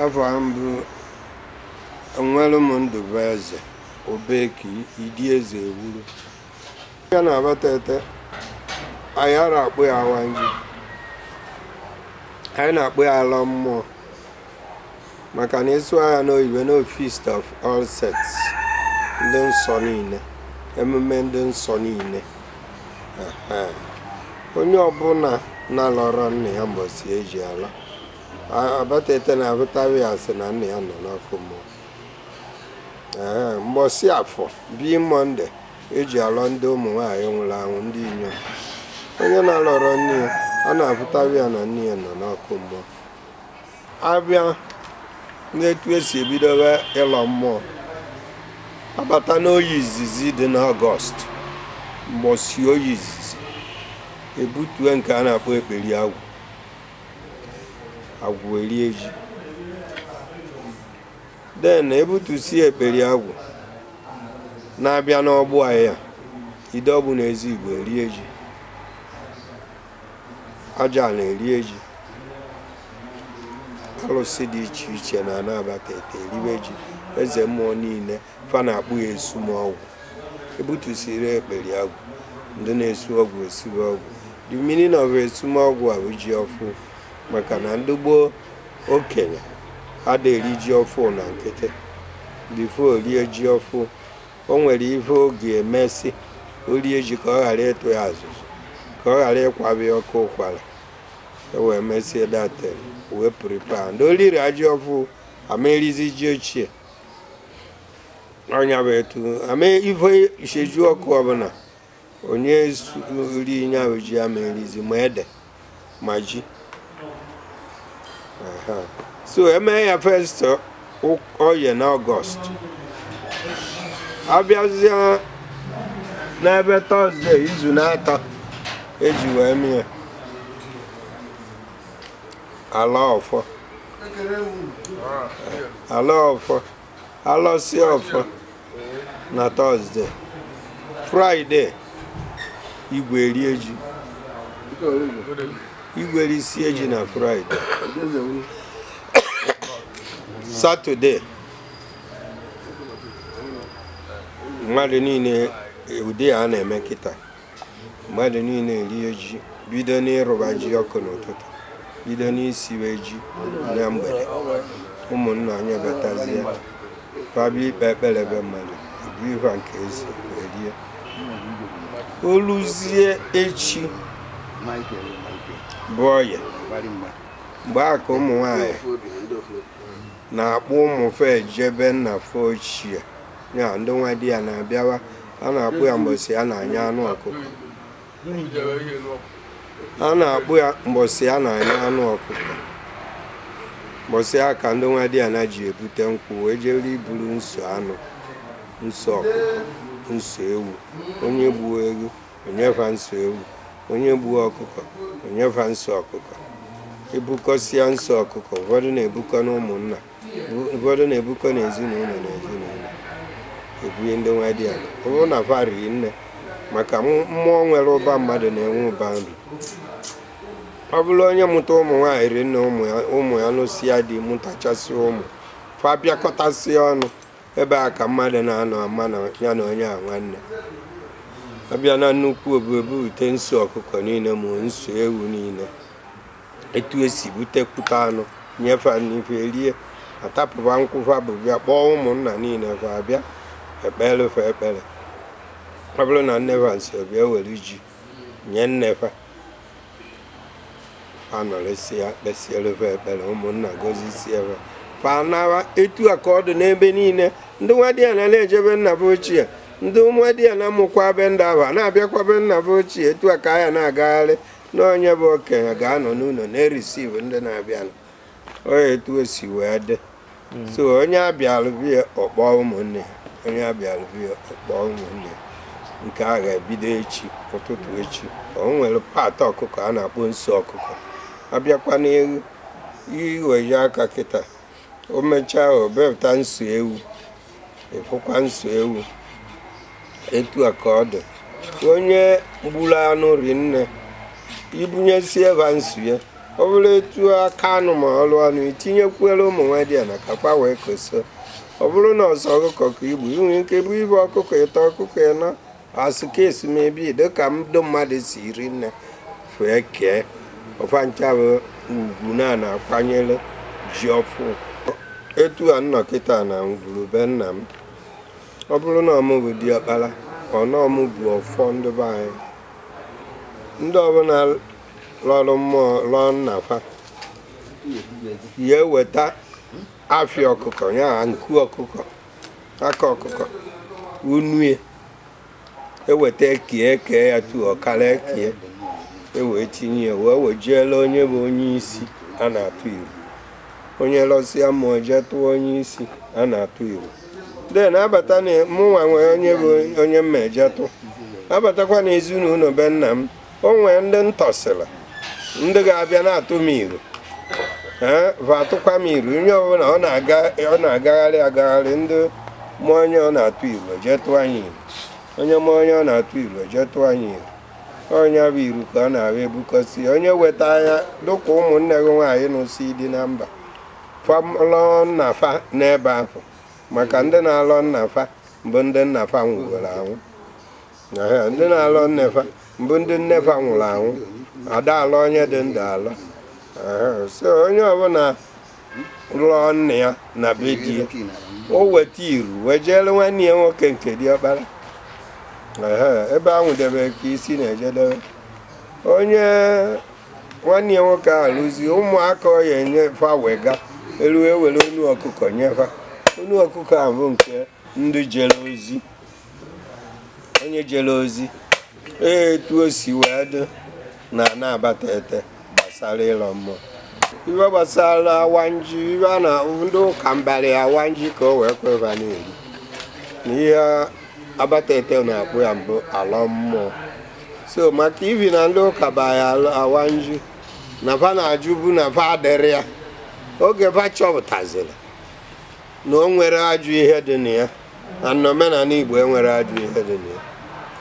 afọ a mbụ enwere m ndụbụ eze obeki idi eze ewuru ya na Abatete anyị ara akpọ ya awam ji anyị na-akpọ ya alọ mmụọ maka na a sụwa ya n'oyibo no feast of all saints ndị nsọ niile emume ndị nsọ niile ehe onye ọbụla na-alọrọ nna ya mbọsi eji alọ abatete na abụtawa ya sị na nna ya nọ n'ọkụ mmụọ ee mgbọsị afọ bụ mọnde eji alọ ndị ụmụ nwaanyị nwụrụ anwụ ndị inyom onye na-alọrọ nne ya a na-abụtawa ya na nne ya nọ n'ọkụ mmụọ abịa n'etu esi ebidobe ịlọ mmụọ abata n'oye izizi dị n'ọgọst mgbọsị oye izizi ebutue nke a na-akpọ ekperi agwụ agwụ erie ji then ebutusie ekperi agwụ na-abịa n'Ogbu ahịa ide Ogbu na ezi igbo erie ji Ajana erie ji alụsị dị iche iche nọ na Abatete eribe ji eze mmụọ niile fa na-akpọ ya esum ọgwụ ebutusiri ekperi agwụ ndị na-esi ọgwụ esiri ọgwụ the meaning of esum ọgwụ a bụ ji ọfụ maka na ndị gboo okenye ada eri ji ọfụ na nkịtị before o rie ji ọfụ o nwere ife ọ ga-emesị o rie ji ka ọ ghara ịtụ ya azụzụ ka ọ ghara ịkwabi ọkụ ụkwara e wee mesie that thing wee prepare ndị riri ji ọfụ ama erizi ji ochie ọ nya bụ etu ama ife iseju ọkụ ọbụla onye rie nya bụ ji ya ama erizi ma ede ma ji Aha. so eme ya first oye na ọgọst abịazịa n'ebe tọzde izu na-atọ eji wee mee alọ ọfọ alọ ọfọ alọsie ọfọ na tọzde fraịde igwe erie ji igwe erisie ji na fraịde satọde mmadụ niile ụdị a na-eme kịta mmadụ niile erie ji bido n'ịrụba ji ọkụ n'ụtụtụ bido n'isiwe ji na mgbede ụmụnna anyị batazie fa bịa ikpe ekpere ebe mmadụ bụ ihu a nke ezi wee rie o luzie echi bụ oye mgbe a ka ụmụ nwanyị na-akpọ ụmụ fa eje be nna fa ochie ya ndị nwadiana abịawa a na-akpọ ya mgbọsị a na-anya anụ ọkụkọ a na-akpọ ya mgbọsị a na-anya anụ ọkụkọ mgbọsị a ka ndị nwadiana ji ebute nkwụ wee jere iburu nso anụ nso ọkụkọ nso ewu onye gbuo ewu o nye fa nso ewu onye gbuo ọkụkọ o nye fa nso ọkụkọ ebukọsịa nso ọkụkọ ụfọdụ na-ebukọ n'ụmụnna ụfọdụ na-ebukọ n'ezinụlọ n'ezinụlọ ebunye ndị nwadiana ọ bụrụ na fa ri nne maka mụ- mmụọ nwere ụba mmadụ na-enwe ụba nri ọ bụrụ onye mụta ụmụ nwaanyị ri nne ụmụ ya ụmụ ya lụsịa di mụtachasị ụmụ fa bịakọtasịa ọnụ ebe a ka mmadụ na-anọ ama na ya na onye a nwanne abịa na nnukwu obu ebute nso ọkụkọ niile ma nso ewu niile etu e si butekwute anụ nyefe n'ife erie atapụba nkwụ fa bu bịa kpọọ ụmụnna niile fa abịa ekpere fa ekpere ọ bụrụ na nne fa nsi bịa were ji nye nne fa fa nọrịsị ya kpesiere fa ekpere ụmụnna gozisie fa fa nawa etu a ka ọ dị n'ebe niile ndị nwadiana na-eje be nna fa ochie ndị nwadiana mụkwa be ndị a fa na-abịakwa be nna fa ochie etu a ka a ya na-agagharị n'onye bụ okenye ga-anọ n'ụlọ na-receive ndị na-abịanụ onye etu o si wee dị hmm. so onye a bịalụ be ya ọ kpọọ ụmụnne ya onye a bịalụ be ya ọ kpọọ ụmụnne ya nke a ga-ebido echi ụtụtụ echi o nwere part ọkụkọ a na-akpọ nso ọkụkọ abịakwa n'elu iwa ji a ka kịta o mechaa o bepụta nso ewu ị fụkwa nso ewu etu a ka ọ dị onye gburu anụ ri nne i bunyesie fa nso ya ọ bụrụ etu aka anụ ma ọrụ anụ i tinyekwuere ụmụ nwadiana ka fa wee keso ọ bụrụ na ọ sọ ọkụkọ ka i gbu i nwe ike bụ ibe ọkụkọ ịtọ ọkụkọ ịnọ a sị ka e si mebe dịka ndị mmadụ si ri nne fa ekee ọ fa ncha bụ ugwu a na-akwanyere ji ọfụụ etu a m nọ kịta na ngwuru be nna m ọ bụrụ na ọ mụ bụ diọkpara ọ na ọ mụ bu ọfọ ndị be anyị ndị ọbụla lọrụ mmụọ lọọ nna fa ya eweta afịa ọkụkọ ya nku ọkụkọ aka ọkụkọ unue eweta kie kee ya tu ọkara ekie ewee tinye ya wee wejiela onye bụ onye isi a na-atụ iru onye lọsịa mmụọ jee tụọ onye isi a na-atụ iru then abata na mụnwa nwee onye bụ onye m ma-eje tụ abatakwa na ezinụlọ be nna m o nwee ndị m tọsịrị ndị ga-abịa na-atụ m iru ee va atụkwa m iru onye ọbụla ọ na-aga ọ na-agagharị agagharị ndị mụ onye ọ na-atụ iru jee tụọ anyị iru onye mụ onye ọ na-atụ iru jee tụọ anyị iru onye bu iru ka ọ na-abịa ebukọsi onye weta anya dịka ụmụnne gị nwaanyị nụsị di na mba fa alọ nna fa n'ebe ahụ maka ndị na-alọ nna fa bụ ndị nna fa nwụgoro anwụ ndị na-alọ nne fa bụ ndị nne fa nwụrụ anwụ a da-alọ onye dị ndụ alọ so onye ọbụla lọọ nne ya na be di ya o weta iru wee jeere nwanne ya nwoke nke dị ọkpara ebe a nwụdebere ka isi na-ejedebe onye nwanne ya nwoke arọzi ụmụaka ọ ya enye fa wega iru ewere onu ọkụkọ nye fa onu ọkụkọ a bụ nke ndị jere ozi onye jere ozi etu o si wee dị na na Abatete gbasara ịlọ mmụọ ihe gbasara awanji ihi na ndị ụka mbara ya awanji ka o wee kwe va na-eri na ihe Abatete na-akpọ ya mbụ alọ mmụọ so maka ihi na ndị ụka ba ya awanji na va na-ajụbu na va adị eri ya oge va chọpụtaziri na o nwere ajọ ihe dị na ya na n'omenala Igbo enwere ajọ ihe dị na ya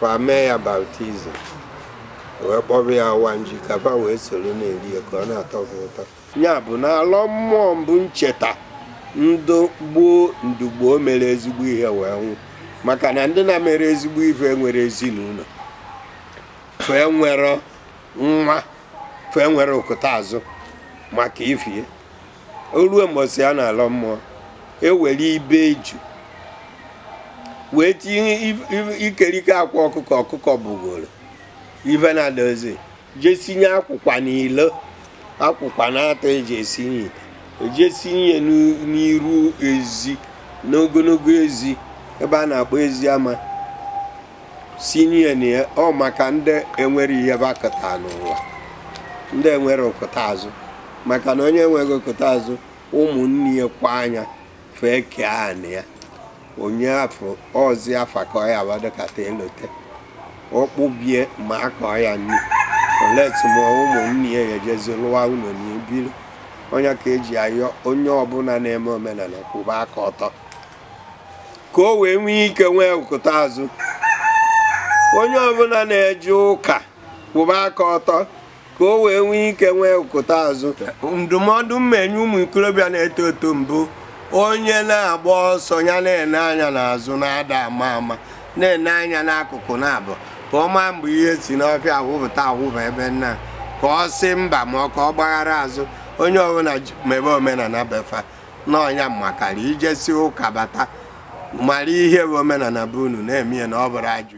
va mee ya baptism wee kpọba ya awanji ka va wee soro na-eri ya ka ọ na-atọ va ụtọ ya bụ na alọ mmụọ mbụ ncheta ndị gboo ndị gboo mere ezigbo ihe wee nwụ maka na ndị na-emere ezigbo ife enwere ezinụlọ fa enwere nwa fa enwere okụta azụ maka ifie o ruo mbọsị a na-alọ mmụọ ewere ibe eju wee tinye ikerike akwa ọkụkọ ọkụkọ bụgoro ife na dozi jee sinye akwụkwa n'ilo akwụkwa n'atọ eji esinye ite e jee sinye n'iru ezi n'ogologo ezi ebe a na-akpọ ezi ama sinye na ya ọ maka ndị enwere ihe va kụta n'ụwa ndị enwere okụta azụ maka na onye enweghị okụta azụ ụmụnne ya kwa anya fee kee anị ya onye afọ ọzi afa ka ọ ya abadokata e lote ọkpụbie ma a kọọ ya nri oleti ma ụmụnne ya ejezi lụwa ụlọ na ebiri onye ka eji ayọ onye ọbụla na-eme omenala kwụba aka ọtọ ka o wee nwee ike nwee ụkụta azụ onye ọbụna na-eje ụka kwụba aka ọtọ ka o wee nwee ike nwee ụkụta azụ ndụmọdụ m enye ụmụ ikorobịa na-eto eto mbụ onye na-agba ọsọ ya na-ene anya n'azụ na ada ama ama na-ene anya n'akụkụ na-abụ ka ọ maa mgbe ihe si n'ọfịa awụpụta awụba ebe nna ka ọ sị mba maka ọ gbaghara azụ onye ọbụna mebe omenana be fa na ọ nya makarị i jesi ụka bata mara ihe bụ omenana be unu na-eme ya na ọ bụrọ ajọ